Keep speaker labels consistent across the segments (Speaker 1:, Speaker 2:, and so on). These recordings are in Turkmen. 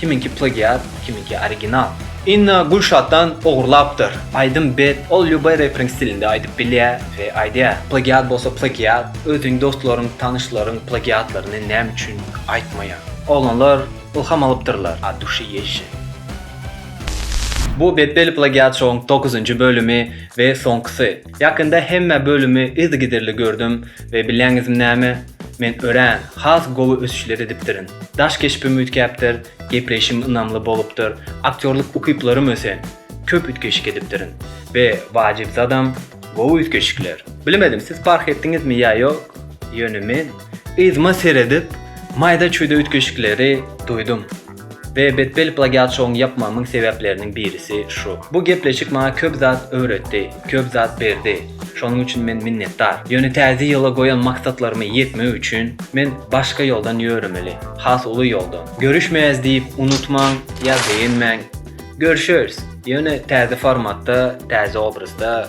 Speaker 1: Kimiňki plagiat, kimiňki original. Inna Gülşatdan ogurlapdyr. Aýdym bet, ol lýuboý reperiň stilinde aýdyp bilýä we aýdýa. Plagiat bolsa plagiat, özüň dostlaryň, tanyşlaryň plagiatlaryny näme üçin aýtmaýaň. Oglanlar ylham alypdyrlar od duşi ýeşil. Bu Betbelli plagiat şoň dokuzynjy bölümi we soňkysy. Ýakynda hemme bölümi yzygiderli gördüm we bilýäňizmi näme? Men örän, has gowy ösüşler edipdirin. Daş keşbim üýtgäpdir, gepleýşim ynamly bolupdyr, aktýorlyk ukyplarym ösen, köp üýtgeşik edipdirin we wajyp zadam, gowy üýtgeşikler. Bilmedim, siz parh etdiňizmi ýa ýok, ýöne men yzyma seredip, maýda-çüýde üýtgeşikleri duýdum. We betbel plagiatçylygyny ýapmamyň sebäpleriniň birisi şu. Bu gepleşik maňa köp zat öwretdi, köp zat berdi. Şonuň üçin men minnetdar. Ýöne täze ýyla goýan maksatlaryma ýetmek üçin men başga ýoldan ýöremeli, has uly ýoldan. Görüşmeýäs diýip unutmaň ýa begenmäň. Görüşeris, ýöne täze formatda, täze obrazda.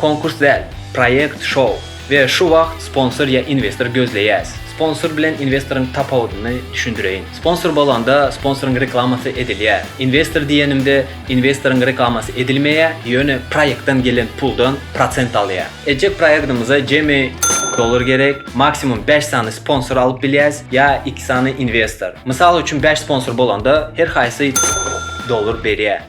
Speaker 1: Konkurs däl, proýekt, şou. We şu wagt sponsor ýa investor gözleýäs. Sponsor bilen investoryň tapawudyny düşündireýin. Sponsor bolanda sponsoryň reklamasy edilýär. Investor diýenimde investoryň reklamasy edilmeýär, ýöne proýektden gelen puldan prosent alýar. Etjek proýektimize jemi dollar gerek, maksimum bäş sany sponsor alyp bilýäs ýa iki sany investor. Mysal üçin bäş sponsor bolanda her haýsy dollar berýär.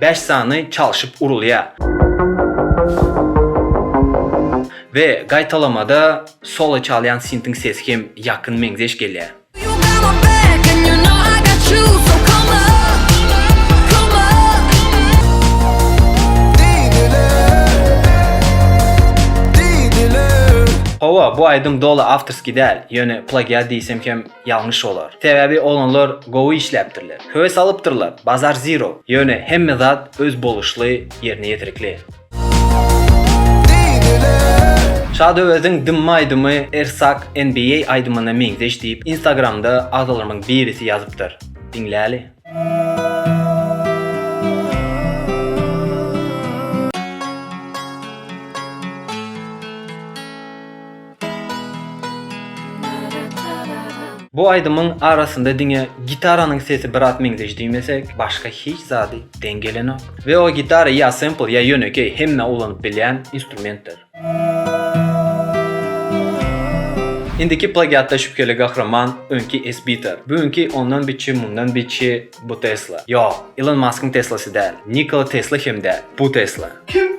Speaker 1: Bäş sany çalşyp urulýar. We gaýtalamada solo çalýan sintiň sesi hem ýakyn meňzeş
Speaker 2: gelýär.
Speaker 1: Hawa, bu aýdym doly awtorskiý däl, ýöne plagiat diýsem hem Ýalňyş bolar. Sebäbi oglanlar gowy işläpdirler. Höwes alypdyrlar. Bazar zero. Ýöne hemme zat öz boluşly, ýerine ýetirikli. Şady Öweziň Dymma aýdymy Ersak NBA aýdymyna meňzeş diýip Instagramda agzalarymyň birisi ýazypdyr. Diňläli. Bu aýdymyň arasynda diňe gitaranyň sesi biraz meňzeş diýmesek, başga hiç zady deň gelenok. We o gitara ýa sempl ýa ýönekeý hemmä ulanyp bilýän instrumentdir. Indiki plagiatda şübheli gahryman öňki Esbiter, bu günki ondan biçi mundan biçi bu Tesla. Ýok, Ilon Maskyň Teslasy däl, Nikola Tesla hem däl, bu Tesla. Kim?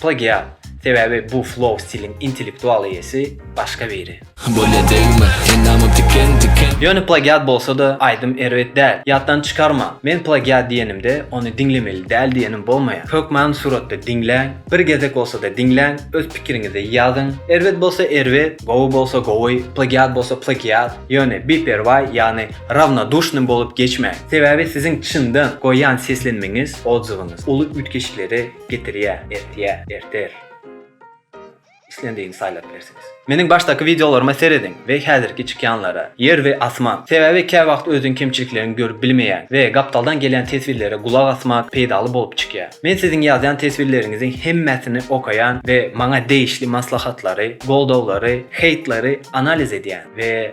Speaker 1: Plagiat, sebäbi bu flow stiliň intellektual eýesi başga biri. Bolýa degme,
Speaker 3: endamym tiken tiken. Ýöne plagiat bolsa-da
Speaker 1: aýdym erbet däl. Ýatdan çykarmaň, men plagiat diýenimde ony diňlemeli däl diýenim bolmaýar. Hökman suratda diňläň, bir gezek bolsa-da diňläň, öz pikiriňizi ýazyň. Erbet bolsa erbet, gowy bolsa gowy, plagiat bolsa plagiat, ýöne biperwaý, ýagny Rawnodushny bolup geçmäň. Sebäbi siziň çyndan goýýan seslenmeňiz oljygyňyz uly üýtgeşiklere getirýär, ertýär, erter. Islendigini saýlap bilersiňiz. Meniň başdaky wideolaryma serediň we häzirki çykýanlara, ýer we asman. Sebäbi käwagt özüň kemçilikleňi görüp bilmeýäň we gapdaldan gelýän teswirlere gulak asmak peýdaly bolup çykýar. Men siziň ýazýan teswirleriňiziň hemmesini okaýan we maňa degişli maslahatlary, goldawlary, heýtleri analiz edýän we.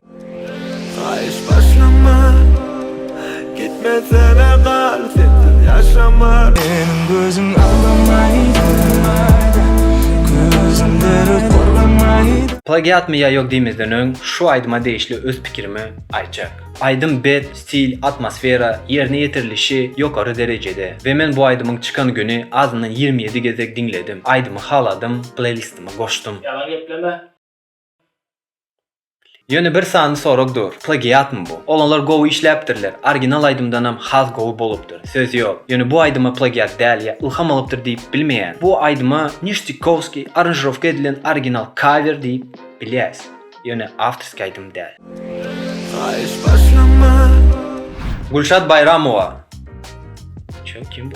Speaker 4: Plagiatmy ýa ýok
Speaker 1: diýmezden öň şu aýdyma degişli öz pikirimi aýtjak. Aýdym bet, stil, atmosfera, ýerine ýetirilişi ýokary derejede we men bu aýdymyň çykan güni azyndan ýigrimi ýedi gezek diňledim. Aýdymy haladym, pleýlistima goşdum. Ýalan gepleme. Ýöne bir sany sorag dur, plagiatmy bu? Oglanlar gowy işläpdirler, orginal aýdymdanam has gowy bolupdyr, söz ýok. Ýöne bu aýdyma plagiat däl ýa ylham alypdyr diýip bilmeýän. Bu aýdyma Niştikowskiý aranžirowka edilen original kawer diýip bilýäs, ýöne awtorskiý aýdym däl. Gülşat Baýramowa. Çö kim bu?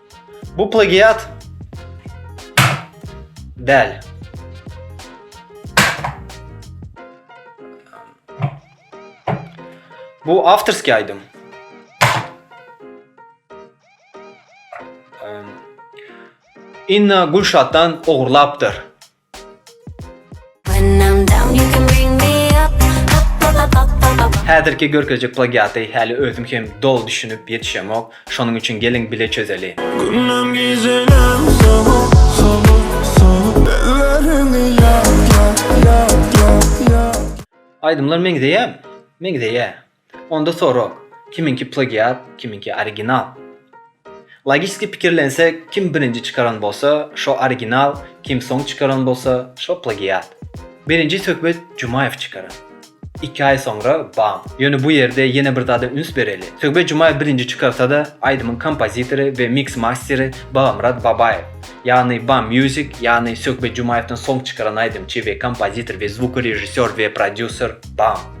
Speaker 2: Bu plagiat
Speaker 1: däl. Bu awtorskiý aýdym. Inna Gülşatdan ogurlapdyr.
Speaker 2: Häzirki
Speaker 1: görkezjek plagiaty häli özüm hem doly düşünip ýetişemok, şonuň üçin geliň bile çözeli. Gündem
Speaker 4: gijenem sowuk sowuk sowuk Elleriňi ýap ýap ýap ýap ýap
Speaker 1: Aýdymlar meňzeýämi? Meňzeýä. Onda sorag, kimiňki plagiat, kimiňki original? Logiski pikirlensek, kim birinji çykaran bolsa, şo original, kim soň çykaran bolsa, şo plagiat. Birinji söhbet Jumaýew çykaran. Iki aý soňra bam. Ýöne bu ýerde ýene bir zada üns bereli. Söhbet Jumaýew birinji çykarsa-da, aýdymyň kompozitory we miks-masteri Babamyrat Babaýew. Ýagny Bam Music, ýagny Söhbet Jumaýewden soň çykaran aýdymçy we kompozitor we zvukorežissýor we prodýuser bam.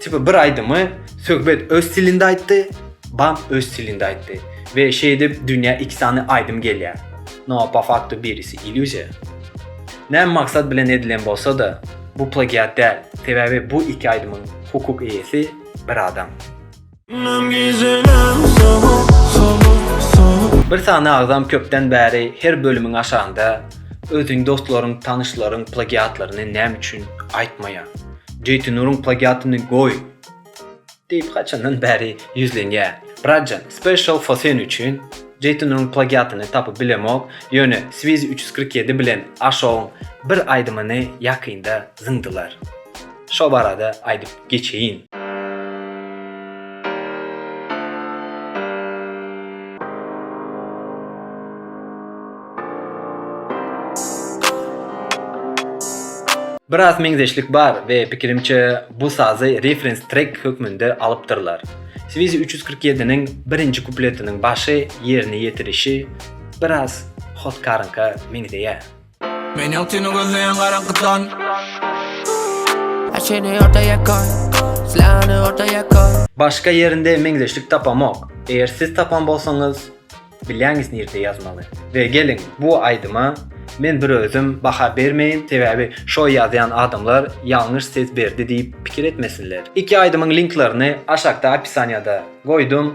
Speaker 1: Tipa bir aýdymy Söhbet öz stilinde aýtdy, Bam öz stilinde aýtdy we şeýdip dünýä iki sany aýdym gelýär. No po faktu birisi illýuziýa. Näme maksat bilen edilen bolsa-da, bu plagiat däl, sebäbi bu iki aýdymyň hukuk eýesi bir adam. Bir sany agzam köpden bäri her bölümiň aşagynda özüň dostlaryň tanyşlaryň plagiatlaryny näme üçin aýtmaýaň Jeýtinuryň plagiatyny goý diýip haçandan bäri ýüzlenýär bratjan special for sen üçin Jeýtinuryň plagiatyny tapyp bilemok ýöne swizi üç ýüz kyrk ýedi bilen aşogyň bir aýdymyny ýakynda zyňdylar. Şo barada aýdyp geçeýin. Biraz meňzeşlik bar we pikirimçe bu sazy reference track hökmünde alypdyrlar. Swizi 347 niň birinji kupletiniň başy ýerine ýetirişi biraz Hotkarynka meňzeýär.
Speaker 3: Men
Speaker 5: ýok seni gözleýän garaňkydan Açyny orta ýakan Silahny orta ýakan Başga ýerinde
Speaker 1: meňzeşlik tapamok. Eger siz tapan bolsaňyz, bilýäňiz nirde ýazmaly. We geliň bu aýdyma men bir özüm baha bermeýin, sebäbi şo ýazýan adamlar ýalňyş ses berdi diýip pikir etmesinler. Iki aýdymyň linklerini aşakda opisaniýada goýdum.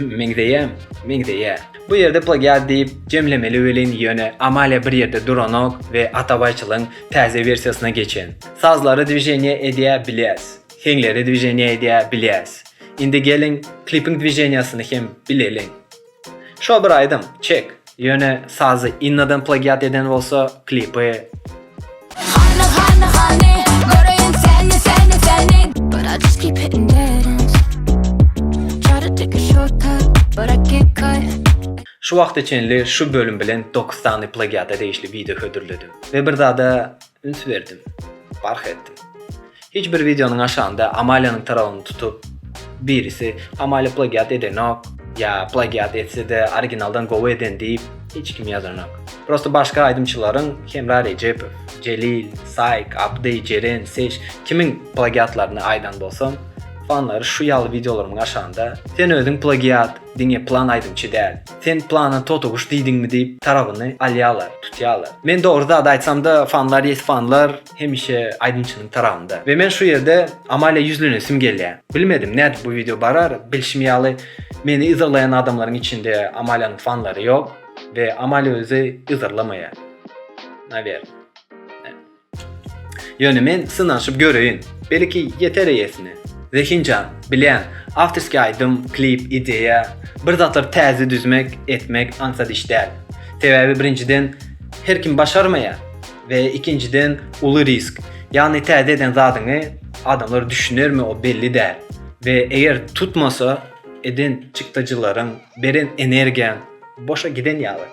Speaker 1: Meňzeýäm, meňzeýär. Bu ýerde plagiat diýip jemlemeli welin ýöne Amalia bir ýerde duranok we Atabaýçylyň täze wersiýasyna geçen. Sazlary dwiženiýa edýä bilýäs. Heňleri dwiženiýa edýä bilýäs. Indi geliň klipiň dwiženiýasyny hem bileliň. Şo bir aýdym, çek. Ýöne sazy Innadan plagiat eden bolsa klipi.
Speaker 2: Şu wagta
Speaker 1: çenli şu bölüm bilen dokuz sany plagiata degişli wideo hödürledim we bir zada Üns berdim. Bark etdim. Hiç bir wideonyň aşagynda Amaliýanyň tarawyny tutup, birisi Amaliýa plagiat edenok, ýa plagiat etse-de originaldan gowy eden diýip hiç kim ýazanok. Prosta başga aýdymçylaryň Hemra Rejepow, Jelil, Saýk, Abdy, Jeren, Seş kimin plagiatlaryny aýdan bolsam, fanlary şu ýaly wideolarymyň aşagynda Sen özüň plagiat, diňe plan aýdymçy däl. Sen plana totyguş diýdiňmi diýip tarabyny alýalar, tutýalar. Men dogry zady aýtsamda fanlar ýes fanlar hemişe aýdymçynyň tarabynda. We men şu ýerde Amalia ýüzlenesim gelýär. Bilmedim nädip bu wideo barar, bilşim ýaly meni yzarlaýan adamlaryň içinde Amalianyň fanlary ýok we Amalia özi yzarlamaýar. Nawer. Ýöne men synanyşyp göreýin. Belki, ýeter eýesine. Zehinjan, bilýän, awtorskiý aýdym, klip, ideýa, bir zatlary täze düzmek, etmek aňsat iş däl. Sebäbi birinjiden, her kim başarmaýar we ikinjiden, uly risk. Ýagny täze eden zadyňy adamlar düşünermi o belli däl we eger tutmasa, eden çykdajylaryň, beren energiýaň boşa giden ýaly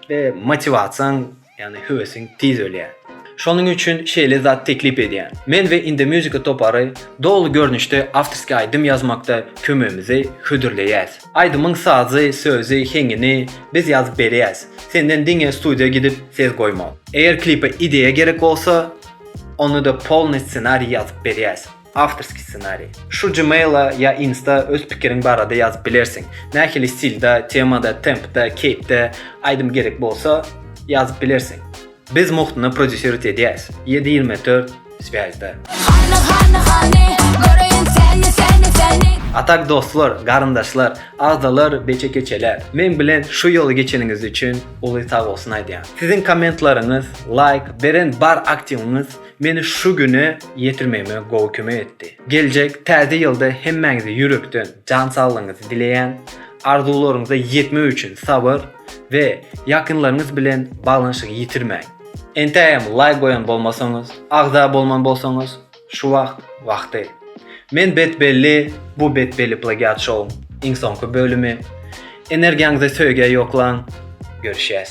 Speaker 1: we motiwasiýaň Ýagny höwesiň tiz ölýär. Şonuň üçin şeýle zat teklip edýän. Men we Indomusica topary doly görnüşde awtorskiý aýdym ýazmakda kömegimizi hödürleýäs. Aýdymyň sazy, sözi, heňini biz ýazyp berýäs. Senden diňe studiýa gidip ses goýmak. Eger klipe ideýa gerek bolsa, onda-da polny ssenariý ýazyp berýäs. Awtorskiý ssenariý. Şu Gmail-a ýa Insta öz pikiriň barada ýazyp bilersiň. Nähili stilde, temada, tempde, keýpde aýdym gerek bolsa, ýazyp bilersiň. Biz muhtyna prodýuserut edýäs. Ýedi ýigrimi dört Swýazda. Hany, hany, hany, göreýin seni, seni, seni. A tak dostlar, garyndaşlar, agzalar, beçe-keçeler, meň bilen şu ýoly geçeniňiz üçin uly sagbolsun aýdýan. Siziň kommentlaryňyz, laýk, beren bar aktiwiňiz meni şu güne ýetirmegime gowy kömek etdi. Geljek Täze ýylda hemmäňize ýürekden jan saglygyňyzy dileýän, arzuwlaryňyza ýetmek üçin sabyr we ýakynlaryňyz bilen baglanyşygy ýitirmäň. Entägem laýk goýan bolmasaňyz, agza bolman bolsaňyz, şu wagt wagty. Men Bet Belli, bu Bet Belli Plagiat Show-yň iň soňky bölümi. Energiýaňyzy söýgä ýoklaň. Görüşýäs.